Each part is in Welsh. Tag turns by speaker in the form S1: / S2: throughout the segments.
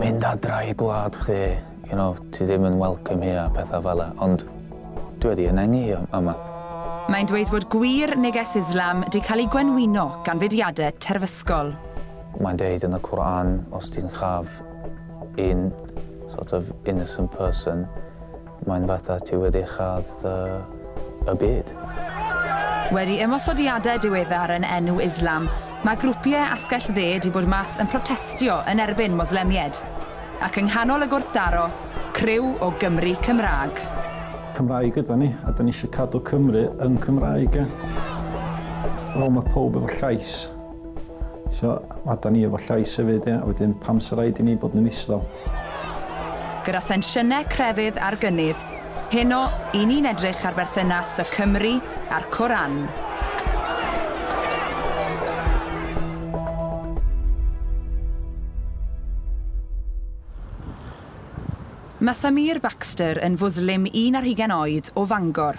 S1: mynd adra i gwlad chdi, you know, ti ddim yn welcome here a pethau fel 'na, ond dwi wedi ynganu hi yma. Mae'n dweud bod gwir neges Islam 'di cael ei gwenwyno gan fudiadau terfysgol. Mae'n deud yn y Qur'an os ti'n chaf un sort of innocent person, Mae'n fatha ti wedi châd y byd. Wedi ymosodiadau diweddar yn enw Islam, mae grwpiau Asgell Dde 'di bod mas yn protestio yn erbyn Moslemiaid. Ac yng nghanol y gwrthdaro, criw o Gymry Cymraeg. Cymraeg ydan ni, a 'dan ni eisiau cadw Cymru yn Cymraeg, ie? Wel, mae pawb efo llais. So, a 'da ni efo llais hefyd, ia? Wedyn, pam 'sa raid i ni bod yn ddistaw? Gyda thensiynau crefydd ar gynnydd, heno, 'yn ni'n edrych ar berthynas y Cymry a'r Koran. Mae Samir Baxter yn Fwslim un ar hugain oed o Fangor.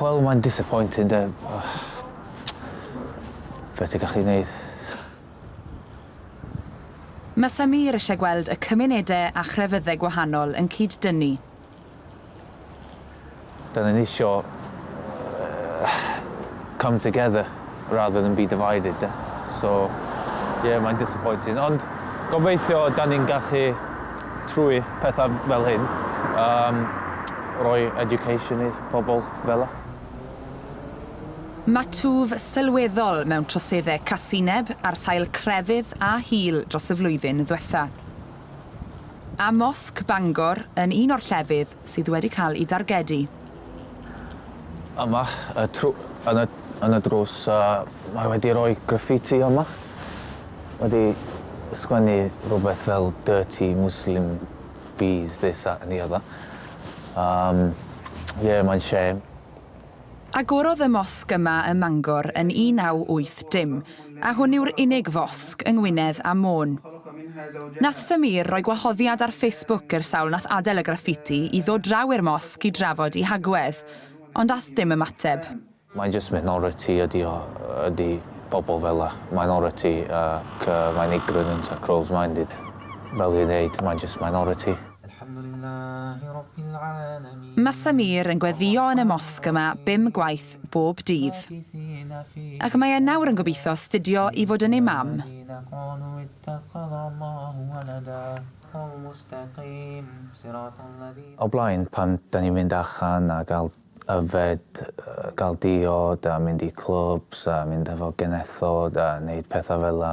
S1: Wel mae'n disappointing de. Be ti'n gallu neud? Mae Samir eisiau gweld y cymunedau a chrefyddau gwahanol yn cyd-dynnu. Dan ni'n eisiau come together. rather than be divided de. So ie mae'n disappointing ond gobeithio dan ni'n gallu trwy pethau fel hyn um, roi education i pobl fela. Mae twf sylweddol mewn troseddau casineb ar sail crefydd a hil dros y flwyddyn ddiwetha'. A Mosg Bangor yn un o'r llefydd sydd wedi cael eu dargedu. Yma, y tru- yn y, yn y drws, uh, mae wedi rhoi graffiti yma. Wedi sgwennu rhywbeth fel dirty Muslim bees, this, that and the other. Um, yeah, mae'n shame. Agorodd y mosg yma ym Mangor yn 1980, a hwn yw'r unig fosg yng Ngwynedd a Môn. Nath Sameer roi gwahoddiad ar Facebook i'r sawl nath adel y graffiti i ddod draw i'r mosg i drafod i hagwedd, ond ath dim ymateb. Mae jyst minority ydi o, ydi pobl fela. Minority ac yy mae'n ignorant a close minded fel dwi'n ddeud, mae'n jyst minority. Mae Samir yn gweddïo yn y mosg yma bum gwaith bob dydd. Ac mae e nawr yn gobeithio astudio i fod yn Imam. O'r blaen, pan 'da ni'n mynd allan a gael yfed, gael diod a mynd i clwbs a mynd efo genethod a neud pethau fela,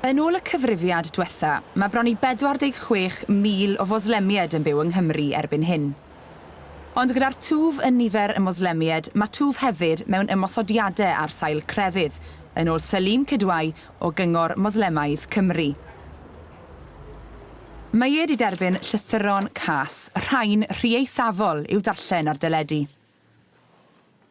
S1: Yn ôl y cyfrifiad dwetha, mae bron i 46,000 o Foslemied yn byw yng Nghymru erbyn hyn. Ond gyda'r twf yn nifer y Moslemied, mae twf hefyd mewn ymosodiade ar sail crefydd, yn ôl Saleem Kidwai o Gyngor Moslemaidd Cymru. Meied i derbyn llythyron cas, rhain rhy eithafol i'w darllen ar deledu.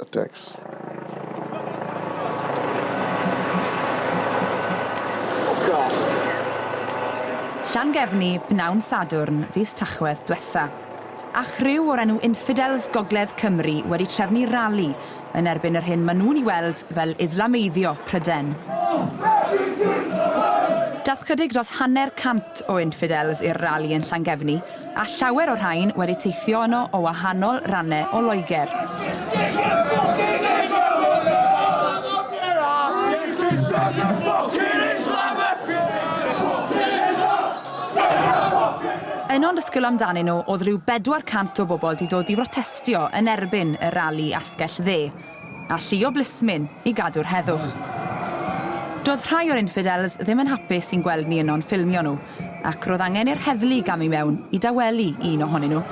S1: y Degys. Llangefni, bnawn Sadwrn, fis Tachwedd, dwetha. A chriw o'r enw Infidels Gogledd Cymru wedi trefnu rali yn erbyn yr hyn ma nhw'n i weld fel Islameiddio Pryden. Dath chydig dros hanner cant o Infidels i'r rali yn Llangefni a llawer o'r rhain wedi teithio yno o wahanol rannau o Loegr. Un o'n disgwyl amdanyn nhw oedd rhyw 400 o bobl 'di dod i brotestio yn erbyn y rali asgell dde, a llu o blismyn i gadw'r heddwch. Doedd rhai o'r infidels ddim yn hapus i'n gweld ni yno'n ffilmio nhw, ac roedd angen i'r heddlu gamu i mewn i dawelu un ohonyn nhw.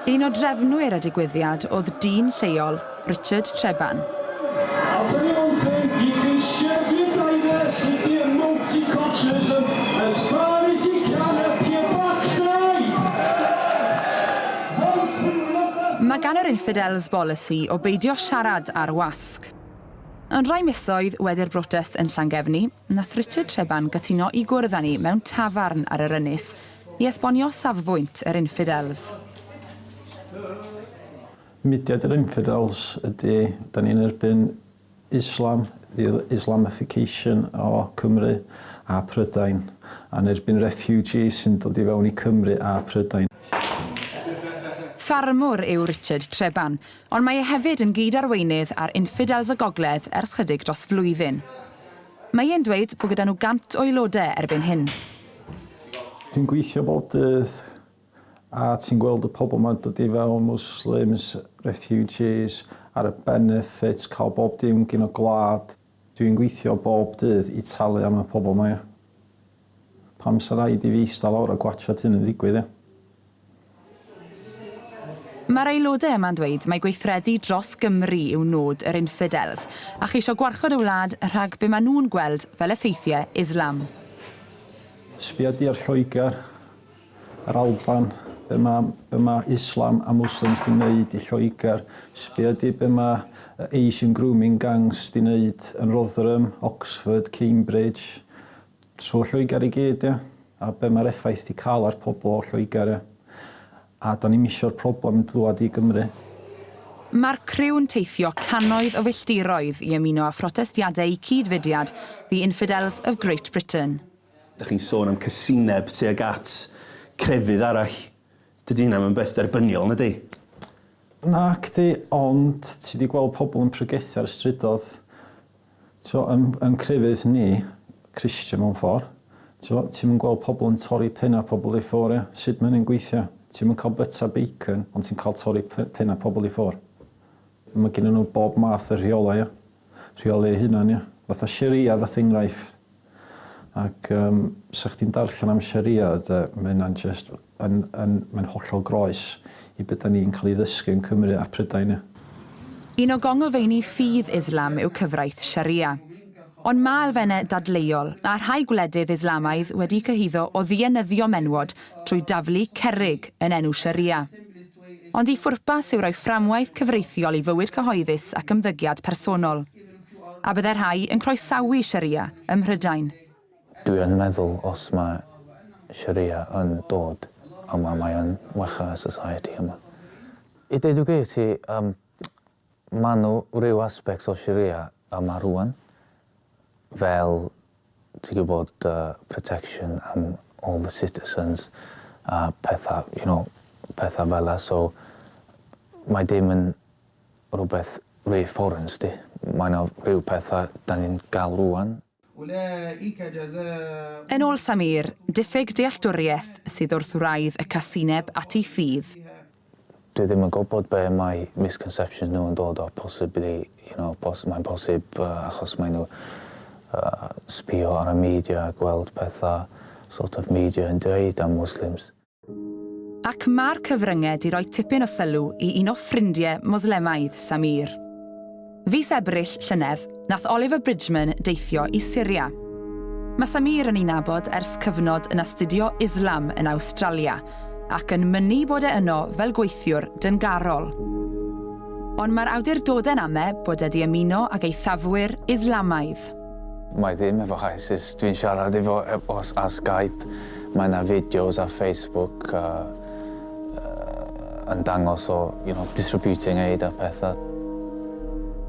S1: Un o drefnwyr y digwyddiad oedd dyn lleol, Richard Treban. Mae gan yr Infidels bolisi o beidio siarad ar wasg. Ond rai misoedd wedi'r brotest yn Llangefni, Nath Richard Treban gytuno i gwrdd â ni mewn tafarn ar yr ynys i esbonio safbwynt yr Infidels. Mudiad yr Infidels ydy, dan ni'n erbyn Islam, the Islamification o Cymru a Prydain, a'n erbyn refugees sy'n dod i fewn i Cymru a Prydain. Ffarmwr yw Richard Treban, ond mae e hefyd yn gyd-arweinydd ar Infidels y Gogledd ers chydig dros flwyddyn. Mae e'n dweud bod gyda nhw 100 o aelodau erbyn hyn. Dwi'n gweithio bob dydd a ti'n gweld y pobl ma'n dod i fewn, Muslims, refugees, ar y benefits, cael bob dim gin y gwlad. Dwi'n gweithio bob dydd i talu am y pobl 'ma, ia. Pam sa raid i fi ista lawr a gwatsiad hyn yn ddigwydd ia? Mae'r aelodau yma'n dweud mai gweithredu dros Gymru yw nod yr infidels, a cheisio gwarchod y wlad rhag be mae nhw'n gweld fel effeithiau Islam. Sbia di ar Lloegr, yr Alban, be mae be mae Islam a Muslims di neud i Lloegr, sbia di be mae y Asian grooming gangs di neud yn Rotherham, Oxford, Cambridge, Trwy Lloegr i gyd ia? A be mae'r effaith di cael ar pobl o Lloegr ia? A da ni'm isio'r problem yn dlwad i Gymru. Mae'r criw'n teithio cannoedd o filltiroedd i ymuno â phrotestiadeu cyd-fudiad The Infidels of Great Britain. Dach chi'n sôn am casineb tuag at crefydd arall. Dydy hynna ddim yn beth derbyniol, na 'di? Nacdi, ond ti 'di gweld pobl yn pregethu ar y strydoedd? T'mo', yn yn crefydd ni, Christian mewn ffor', t'mo', ti'm yn gweld pobl yn torri penna' pobl i ffwr' ia? Sud ma' hynny'n gweithio? Ti'm yn ca'l byta bacon ond ti'n ca'l torri p- penna' pobl i ffwr'. Ma' gennyn nhw bob math o rheolau ia? Rheoli eu hunan ia? Fatha Sharia fatha enghraifft. Ac yym 'sa chdi'n darllen am Sharia de, ma' hynna'n jyst yn yn mae'n hollol groes i be' 'dan ni'n ca'l 'i ddysgu yn Cymru a Prydain ia. Un o gongylfeini ffydd Islam yw cyfraith Sharia. Ond ma' elfenne dadleuol, a rhai gwledydd Islamaidd wedi cyhuddo o ddienyddio menywod trwy daflu cerrig yn enw Sharia. Ond 'i phwrpas yw roi fframwaith cyfreithiol i fywyd cyhoeddus ac ymddygiad personol. A byddai rhai yn croesawu Sharia ym Mhrydain? Dwi yn meddwl os mae Sharia yn dod yma mae yn wella y society yma. I deud y gwir ti yym ma' nhw ryw aspects o Sharia yma rŵan fel ti gwybod y protection am all the citizens a pethau you know pethau fela so mae dim yn rhywbeth reassurance 'di. Mae 'na rhyw petha 'dan ni'n ga'l rŵan. Yn ôl Sameer, diffyg dealltwriaeth sydd wrth wraidd y casineb at ei ffydd. Dwi ddim yn gwybod be' mae misconceptions nhw yn dod o, possibly, you know, pos- mae'n posib yy achos mae nhw yy sbio ar y media a gweld petha sort of media yn dweud am Muslims. Ac mae'r cyfryngau 'di roi tipyn o sylw i un o ffrindie Moslemaidd Samir. Fis Ebrill llynedd, nath Oliver Bridgeman deithio i Syria. Mae Samir yn ei nabod ers cyfnod yn astudio Islam yn Awstralia, ac yn mynnu bod e yno fel gweithiwr dyngarol. Ond mae'r awdurdodau'n ame bod e 'di ymuno ag eithafwyr Islamaidd. Mae ddim efo ISIS, dwi'n siarad efo os ar Skype, mae yna fideos ar Facebook a, uh, yn dangos o, you know, distributing aid a pethau.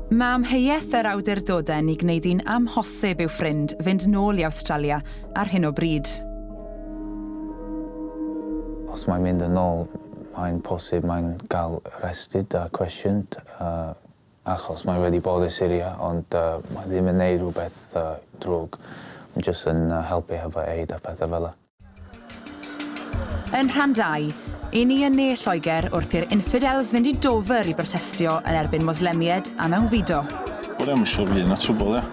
S1: Mae amheuaeth yr awdurdodau yn ei gwneud hi'n amhosib i'w ffrind fynd nôl i Awstralia ar hyn o bryd. Os mae'n mynd yn ôl, mae'n posib mae'n cael arrested a cwestiyned. Uh, Achos mae wedi bod i Syria ond mae ddim yn neud rhywbeth drwg, mae jyst yn helpu hefo aid a pethau fela. Yn rhan dau, 'yn ni yn ne Lloegr wrth i'r infidels fynd i Dover i brotestio yn erbyn Moslemied a mewnfudo. Wel iawn, siŵr fydd 'na trwbwl, ia?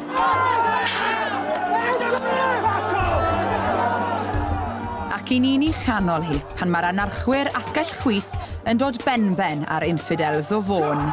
S1: Ac 'yn ni'n 'i chanol hi, pan mae'r anarchwyr asgell chwith Yn dod benben ar infidels o Fôn.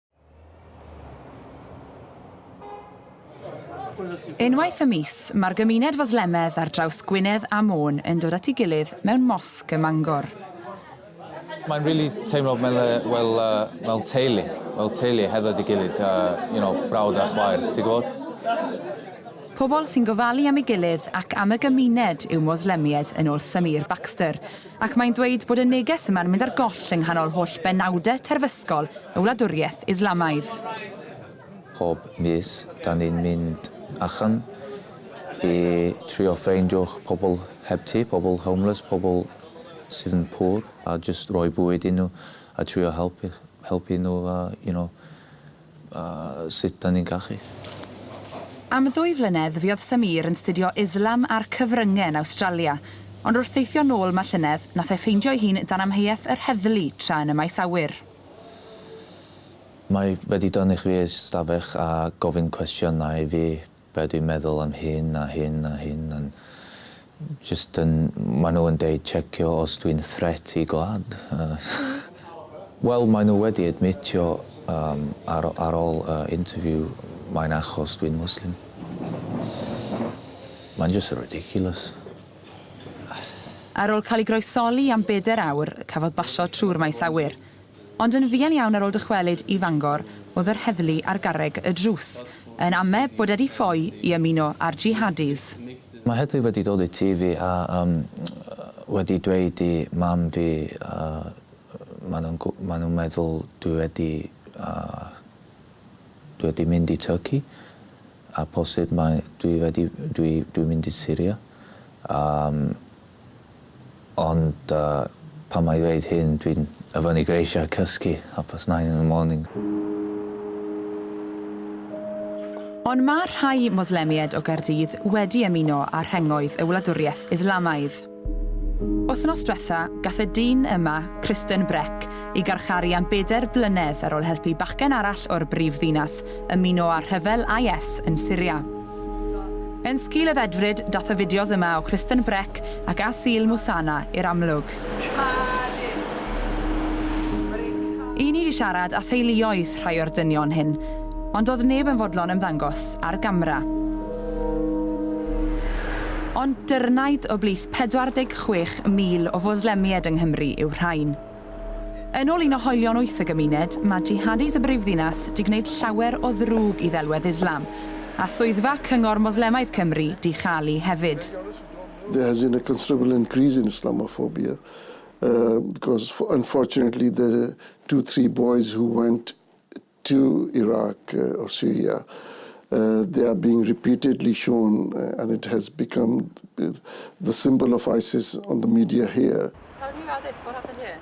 S1: Unwaith y mis, mae'r gymuned Foslemedd ar draws Gwynedd a Môn yn dod at ei gilydd mewn mosg ym Mangor. Mae'n really teimlo fel, fel, fel teulu, fel teulu hefo'i ei gilydd, you know, brawd a chwaer, ti'n gwybod? Pobl sy'n gofalu am ei gilydd ac am y gymuned yw Moslemiaid yn ôl Samir Baxter. Ac mae'n dweud bod y neges yma'n mynd ar goll yng nghanol holl benawdau terfysgol y wladwriaeth Islamaidd. Pob mis 'dan ni'n mynd allan i trio ffeindio pobl heb tŷ, pobl homeless, pobl sydd yn poor a jyst rhoi bwyd i nhw a trio helpu nhw a you know A sut da ni'n cachu? Am ddwy flynedd fuodd Sameer yn 'studio Islam a'r Cyfrynge yn Awstralia, ond wrth deithio nôl 'ma llynedd, nath e ffeindio ei hun dan amheuaeth yr heddlu tra yn y maes awyr. Mae wedi dynnu chwi i'r stafell a gofyn cwestiynau i fi be dwi'n meddwl am hyn a hyn a hyn a'n jyst yn ma' nhw yn deud checio os dwi'n threat i gwlad yy wel mae nhw wedi admitio yym ar ar ôl y interview mae'n achos dwi'n Muslim mae'n jyst ridiculous. Ar ôl cael ei groesoli am bedair awr, cafodd basio trwy'r maes awyr. Ond yn fuan iawn ar ol dychwelyd i Fangor o'dd yr heddlu ar garreg y drws yn ame bod edi ffoi i ymuno â'r Jihadis. Mae heddlu wedi dod i tŷ fi a yym wedi dweud i mam fi yy ma' nhw'n gw- ma' nhw'n meddwl dwi wedi yy dwi wedi mynd i Turkey a posib mae dwi wedi dwi dwi'n mynd i Syria yym Ond pan mae dweud hyn dwi'n ofynnu greisiau cysgu half past nine in the morning. Ond mae rhai Moslemiaid o Gaerdydd wedi ymuno â rhengoedd y wladwriaeth Islamaidd. Wythnos dwetha, gath y dyn yma, Kristen Breck, ei garcharu am bedair blynedd ar ôl helpu bachgen arall o'r brif ddinas ymuno â rhyfel IS yn Syria. Yn sgil y ddedfryd, dath y fideos yma o Kristen Breck ac Asil Muthana i'r amlwg. Y'n ni 'di siarad â theuluoedd rhai o'r dynion hyn, ond do'dd neb yn fodlon ymddangos ar gamra. Ond dyrnaid o blith 46,000 o Fwslemied yng Nghymru yw rhain. Yn ôl un o hoelion wyth y gymuned, mae jihadis y brifddinas 'di gwneud llawer o ddrwg i ddelwedd Islam, a swyddfa Cyngor Moslemaidd Cymru 'di chael-i hefyd. There has been a considerable increase in Islamophobia because unfortunately the two three boys who went to Iraq or Syria, they are being repeatedly shown and it has become the symbol of ISIS on the media here. Tell me about this, what happened here?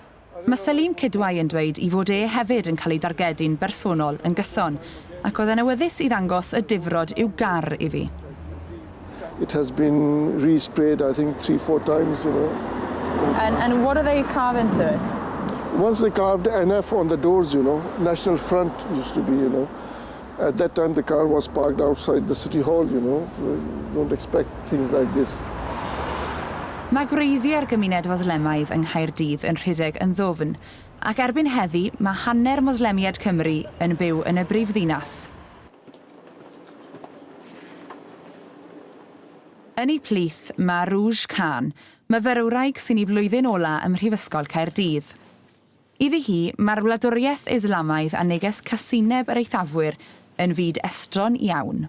S1: Mae Selim Kidwai yn dweud ei fod e hefyd yn cael ei dargedu'n bersonol yn gyson, ac oedd e'n awyddus i ddangos y difrod i'w gar i fi. It has been resprayed, I think, three, four times, you know. And, and what are they carving to it? Once they carved NF on the doors, you know. National Front used to be, you know. At that time, the car was parked outside the city hall, you know. Don't expect things like this. Mae gwreiddiau'r gymuned Foslemaidd yng Nghaerdydd yn rhedeg yn ddwfn, ac erbyn heddi mae hanner Moslemiaid Cymru yn byw yn y brifddinas. Yn eu plith, mae Rouge Khan, myfyrwraig sy'n ei flwyddyn ola' ym Mhrifysgol Caerdydd. Iddi hi, mae'r wladwriaeth Islamaidd a neges casineb yr eithafwyr yn fyd estron iawn.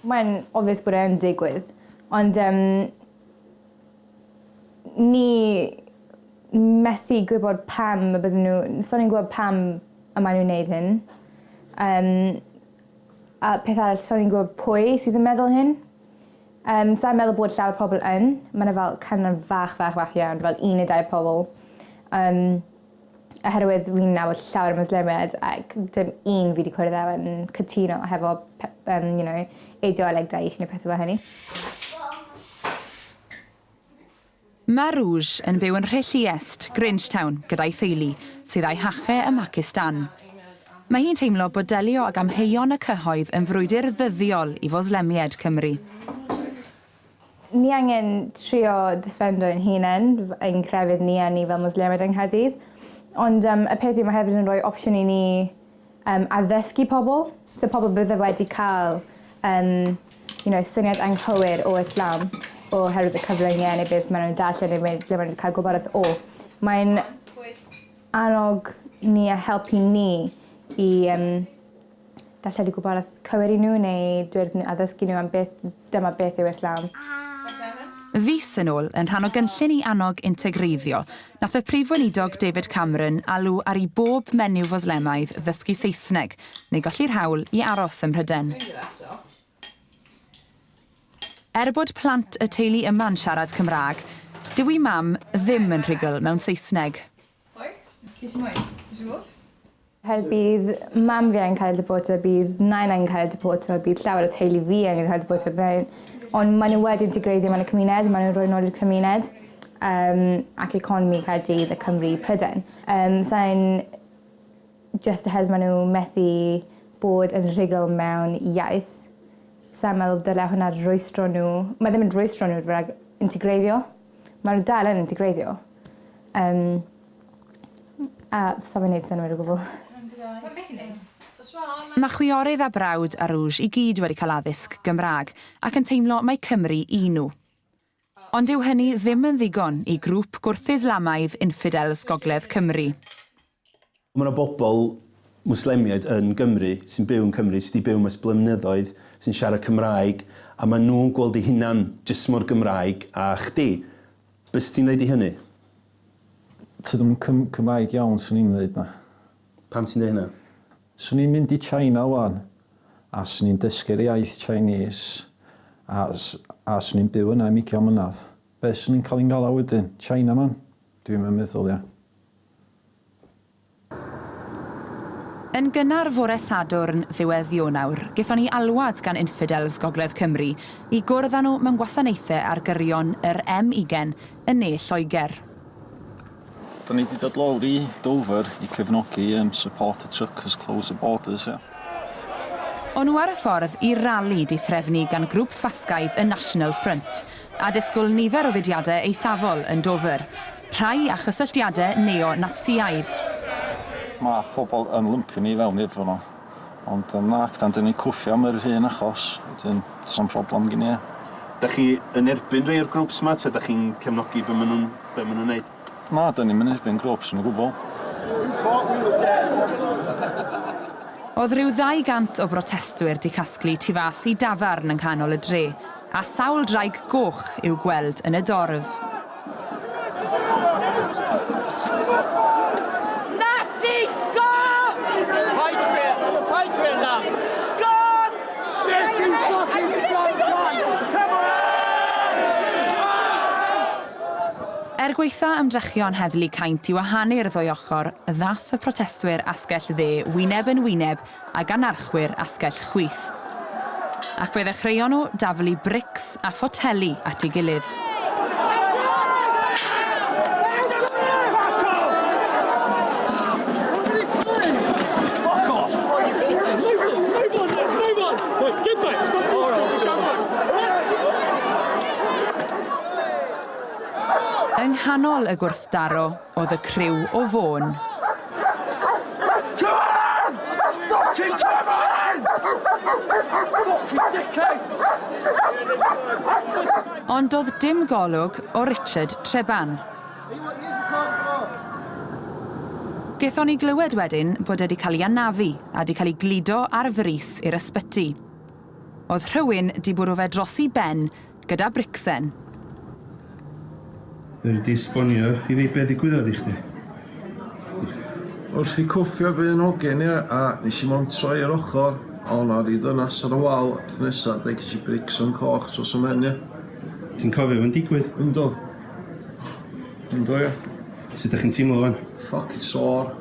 S1: Mae'n obvious bod e yn digwydd, ond yym ni methu gwybod pam y bydden n'w... Sai'n yn gwbo pam y mae nw'n neud hyn. Yym. A peth arall sai'n yn gwbo pwy sydd yn meddwl hyn. Yym sai'n meddwl bod llawer pobol yn. Ma' 'na fel cynion fach fach fach iawn fel un ne' dau pobol. Yym. oherwydd fi'n nabod llawer o Mwslemiaid ac dim un fi 'di cwrdd â yn cytuno hefo pe- yym you know eideoleg Daesh ne' pethe fel hynny. Mae Rouge yn byw yn Rhilliest, Grangetown, gyda'i theulu, sydd a'i hache ym Mhacistan. Mae hi'n teimlo bod delio ag amheuon y cyhoedd yn frwydr ddyddiol i Foslemiaid Cymru. Ni angen trio deffendo ein hunen, ein crefydd ni a ni fel Mwslemid yng Nghaerdydd. Ond yym y peth yw ma' hefyd yn roi opsiwn i ni yym addysgu pobl. So pobl bydde wedi ca'l yym you know syniad anghywir o Islam oherwydd y cyfrynge neu beth ma' nw'n darllen neu mae ble ma' n'w 'di ca'l gwybodaeth o. Mae'n annog ni a helpu ni i yym darlledu gwybodaeth cywir i nhw neu dweud wrthyn nhw a ddysgu nhw am beth dyma beth yw Islam. Fis yn ôl, yn rhan o gynllun i annog integreiddio, nath y Prif Weinidog David Cameron alw ar i bob menyw Fwslemaidd ddysgu Saesneg neu golli'r hawl i aros ym Mhryden. Er bod plant y teulu yma'n siarad Cymraeg, dyw 'u mam ddim yn rhugl mewn Saesneg. Hoi, ti eisiau mwy? Ti eisiau mwy? Her bydd mam fi angen cael deporto, bydd nain angen cael deporto, bydd llawer o teulu fi angen cael deporto. Ond maen nhw wedi integreiddio mewn y cymuned, maen nhw'n rhoi nôl i'r cymuned um, ac economi Caerdydd a Cymru Prydain. Um, Sa'n just oherwydd maen nhw methu bod yn rhugl mewn iaith. Sa'n meddwl dyle hwnna rwystro nhw. Mae ddim yn rwystro nhw rhag integreiddio. Mae n'w dal yn integreiddio. Yym. A sai'n myn' neud synnwyr o gwbwl. Ma'n wych i neud. Mae chwiorydd a brawd Arooj i gyd wedi cael addysg Gymraeg ac yn teimlo mai Cymru y'n nhw. Ond dyw hynny ddim yn ddigon i grŵp gwrth-Islamaidd infidels gogledd Cymru. Mae yna bobl Mwslemiaid yn Gymru, sy'n byw yn Cymru, sy 'di byw yma ers blynyddoedd, sy'n siarad Cymraeg, a maen nhw'n gweld eu hunan jyst mor Gymraeg â chdi. Be' se ti'n ddeud i hynny? Tydw i'm yn Cym- Cymraeg iawn, swn i'n ddeud 'na. Pam ti'n deud hynna? Swn i'n mynd i China 'wan, a swn i'n dysgu'r iaith Chinese, a s- a swn i'n byw yna am ugian mlynedd. Be' swn i'n cael 'i ngalw wedyn? Chinaman? Dwi'm yn meddwl, ia. Yn gynnar fore Sadwrn ddiwedd Ionawr, gaethon ni alwad gan Infidels Gogledd Cymru i gwrdd â nhw mewn gwasanaethau ar gyrion yr M-ugain yn ne Lloegr. Dan ni 'di dod lawr i Dover i cefnogi yym Support the Truckers Close the Borders ia. O'n nhw ar y ffordd i'r rali di threfnu gan grŵp ffasgaidd y National Front, a disgwl nifer o fudiadau eithafol yn Dover. Rhai â chysylltiadau neo-Natsïaidd. Mae pobl yn lympio ni i fewn iddo fo. Ond yym na, dan dan ni'n cwffio am yr un achos, wedyn sna'm problem gin i e. Dach chi yn erbyn rhei o'r grwps 'ma ta dach chi'n cefnogi be ma' nhw'n be ma' nhw'n neud? Na, dan ni'm yn erbyn grwps yn o gwbl. Oedd rhyw ddau gant o brotestwyr 'di casglu tu fas i dafarn yng nghanol y dre, A sawl ddraig goch i'w gweld yn y dorf. Nazi! Scum! Patriot! Patriot laugh! Scum! This you fucking scum cunt! Er gwaetha ymdrechion heddlu caint i wahanu'r ddwy ochr, ddaeth y protestwyr asgell dde wyneb yn wyneb a gan archwyr asgell chwith. Ac fe ddechreuon nhw daflu brics a photeli at ei gilydd. Yng nghanol y gwrthdaro, oedd y criw o Fôn. Cyfan! Ffocin cyfan! Ffocin dickheads! Ond do'dd dim golwg o Richard Treban. Gethon ni glywed wedyn bod e 'di cael 'i anafu a 'di cael 'i gludo ar frys i'r ysbyty. O'dd rhywun 'di bwrw fe dros 'i ben gyda Brixen. Fedri di esbonio i fi be ddigwyddodd i chdi? Wrth i cwffio be yn hogen i a nes i mond troi ar ochr a o 'na ryw ddynas ar y wal a peth nesa da ges i Brixen coch tros y mhen ia. Ti'n cofio fo'n digwydd? Yndw. Yndw ia. Sut dach chi'n teimlo wan? Ffocin sore.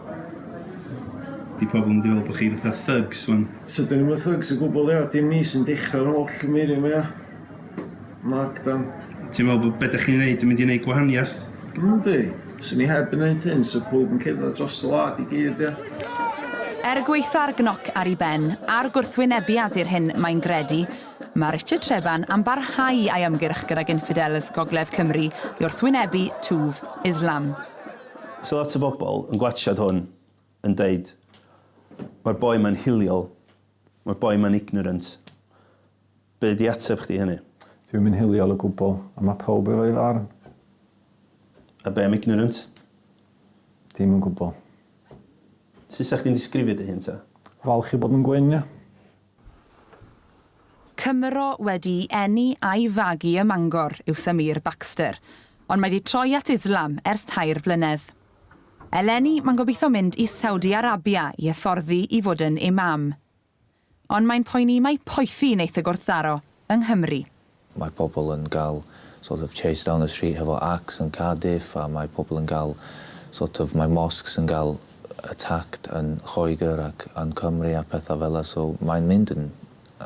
S1: Di pobl mynd i feddwl bo chi fatha thugs wan. Tydyn ni'm yn thugs o gwbwl ia dim ni sy'n dechra'r holl gyfeirio ma ia. Mark down. Ti'n meddwl bod be' dach chi'n neud yn mynd i neud gwahaniaeth? Yndi. Swn i heb neud hyn sa pawb yn cerdded dros y wlad i gyd, ia? Er gwaetha'r gnoc ar ei ben a'r gwrthwynebiad i'r hyn mae'n gredu, mae Richard Treban am barhau â'i ymgyrch gydag Infidels Gogledd Cymru i wrthwynebu twf Islam. So lot o bobl yn gwatsiad hwn yn deud, mae'r boi ma'n hiliol. Mae boi ma'n ignorant. Be di ateb chdi i hynny? Dwi'm yn hiliol o gwbl, ond mae pawb efo'i farn. A be am ignorant? Dim yn gwbl. Sut 'sa chdi'n disgrifio dy hun ta? Falch i bod yn gwyn, ia. Cymro wedi'i eni a'i fagu ym Mangor yw Sameer Baxter, ond mae 'di troi at Islam ers tair blynedd. Eleni mae'n gobeithio mynd i Saudi Arabia i hyfforddi i fod yn Imam. Ond mae'n poeni mai poethi wneith y gwrthdaro yng Nghymru. Mae pobl yn cael sort of chased down the street hefo axe yn Cardiff a mae pobl yn cael sort of mae mosques yn cael attacked yn Lloegr ac yn Cymru a pethau fela so mae'n mynd yn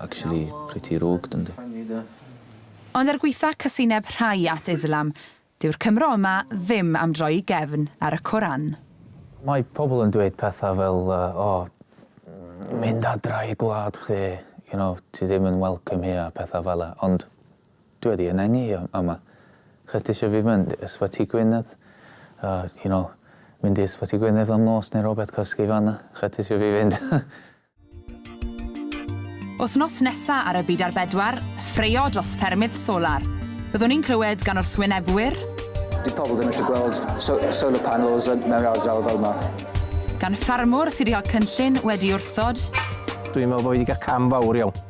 S1: actually pretty rogue dyndi? Ond er gwaetha' casineb rhai at Islam, Dyw'r Cymro yma ddim am droi i gefn ar y Coran. Mae pobl yn dweud pethau fel o, mynd adra i gwlad chdi, you know, ti ddim yn welcome here a pethau fela, ond dwi wedi ynengu yma. Lle ti isio fi mynd? Ysbyty Gwynedd? You know, mynd i Ysbyty Gwynedd am nos neu rywbeth, cysgu fan'na? Lle ti isio fi fynd? Wythnos nesa ar y Byd ar Bedwar, ffraeo dros ffermydd solar. Byddwn ni'n clywed gan wrthwynebwyr, Dyw pobl ddim eisiau gweld so solar panels yn mewn ardal fel yma. Gan ffarmwr sydd wedi cael cynllun wedi wrthod. Dwi'n meddwl bod fi wedi cael cam fawr iawn.